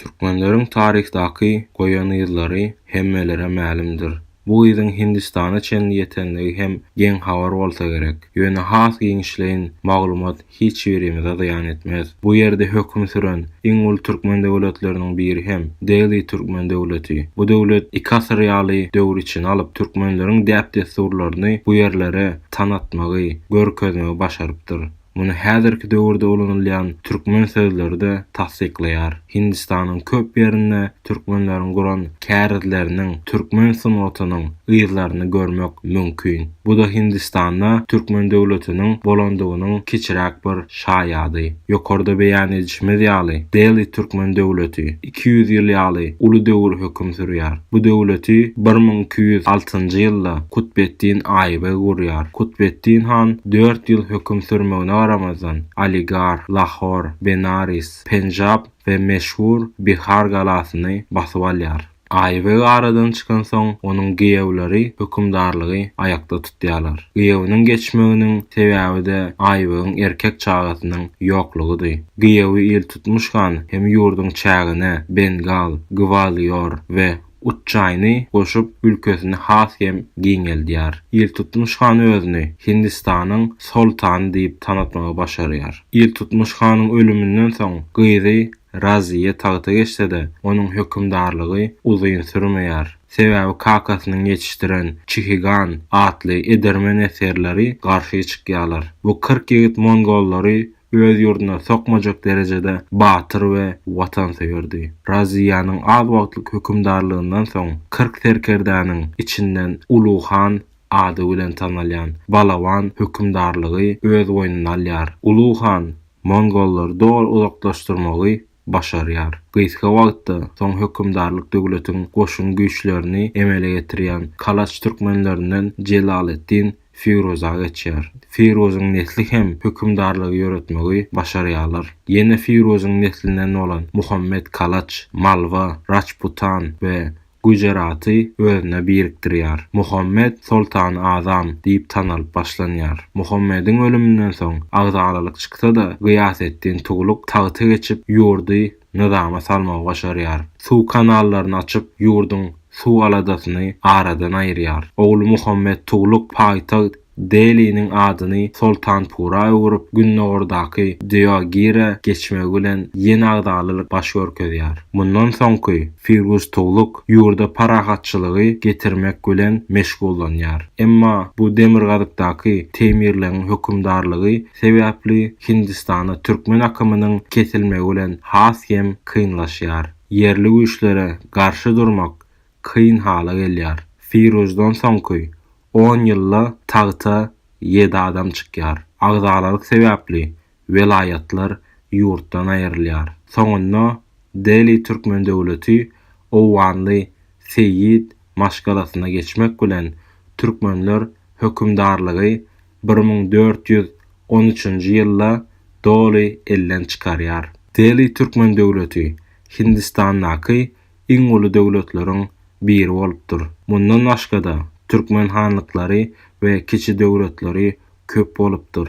Türkmenleriň taryhdaky goýan yzlary hemmelere mälimdir. Bu yzyň Hindistana çenli ýetenligi hem geň habar bolsa gerek. Ýöne has giňişleýin maglumat hiç birimize zyýan etmez. Bu ýerde höküm süren iň uly türkmen döwletleriniň biri hem Deli türkmen döwleti. Bu döwlet iki asyr ýaly döwür içine alyp, türkmenleriň däp-dessurlaryny bu ýerlere tanatmagy, görkezmegi başarypdyr. Muny häzirki döwürde ulanylýan türkmen sözleri-de tassyklaýar. Hindistanyň köp ýerinde türkmenleriň guran kärizleriniň, türkmen sungatynyň yzlaryny görmek mümkin. Bu-da Hindistanda türkmen döwletiniň bolandygynyň kiçiräk bir şaýady. Ýokarda beýan edişimiz ýaly, Deli türkmen döwleti. iki ýüz ýyl ýaly uly döwür höküm sürýär. Bu döwleti bir müň iki ýüz altynjy ýylda Kutbeddin Aýbeg gurýar. Kutbeddin han dört ýyl höküm sürmegine garamazdan, Aligarh, Lahor, Benaris, Penjab we meşhur Bihar galasyny basyp alýar. Aýbeg aradan çykansoň, onuň giýewleri hökümdarlygy aýakda tutýar. Diýýärler. Gyýawunyň geçmeginiň sebäbi-de Aýbegyň erkek çagasynyň ýoklugydy. Gyýawy Iltutmuş han hem ýurduň çägine Bengal, Gwalior we Uçjaýny goşup, ülkesini has hem giňeldýär. Iltutmuş han özüni Hindistanyň soltany diýip tanatmagy başarýar. Iltutmuş hanyň ölüminden soň gyzy Raziýe tagta geçse-de, onuň hökümdarlygy uzyn sürmeýär. Sebäbi kakasynyň ýetişdiren Çihigan atly edermen esgerleri garşy çykýarlar. Bu kyrk ýigit mongollary öz ýurduna sokmajak derejede batyr we watansöýerdi. Raziýanyň az wagtlyk hökümdarlygyndan soň kyrk serkerdäniň içinden Uly han ady bilen tanalýan Balaban hökümdarlygy öz goýnuna alýar. Uly han mongollary doly uzaklaşdyrmagy başarýar. Gysga wagtda soň hökümdarlyk döwletiň goşun güýçlerini emele getirýän Kalaç türkmenlerinden Jelaleddin Firuza geçýär. Firuzyň nesli hem hökümdarlygy ýöretmegi başarýarlar. Ýene Firuzyň neslinden bolan Muhammet Kalaç, Malwa, Raçputan we Gujeraty özüne birikdirýär. Muhammed Soltany Azam diýip tanalyp başlanýar. Muhammediň ölüminden soň agzalalyk çyksa-da, Gyýaseddin Tugluk tagta geçip, ýurdy nyzama salmagy başarýar. Suw kanallaryny açyp, ýurduň suw aladasyny aradan aýyrýar. Ogly Muhammed Tugluk paýtagt Deliniň adyny Soltanpura öwrüp, gündogardaky Deogire geçmegi bilen ýene agzalylyk baş görkezýär. Mundan soňky Firguz Tugluk ýurda parahatçylygy getirmek bilen meşgullanýar. Emma bu demirgazykdaky Teýmirleňiň hökümdarlygy sebäpli Hindistana türkmen akymynyň kesilmegi bilen has hem kynlaşýar. Ýerli güýçlere garşy durmak kyn hala gelýär. Firuzdan soňky On ýylda tagta ýedi adam çykýar. Agzalaryk sebäpli welaýatlar ýurtdan aýrylýar. Soňunda Deli Türkmen döwleti Owganly seýit maşgalasyna geçmek bilen türkmenler hökümdarlygy bir müň dört ýüz on üçünji ýylda doly elden çykarýar. Deli Türkmen döwleti Hindistandaky iň uly döwletleriň biri bolupdyr. Mundan başga-da, türkmen hanlyklary we kiçi döwletleri köp bolupdyr.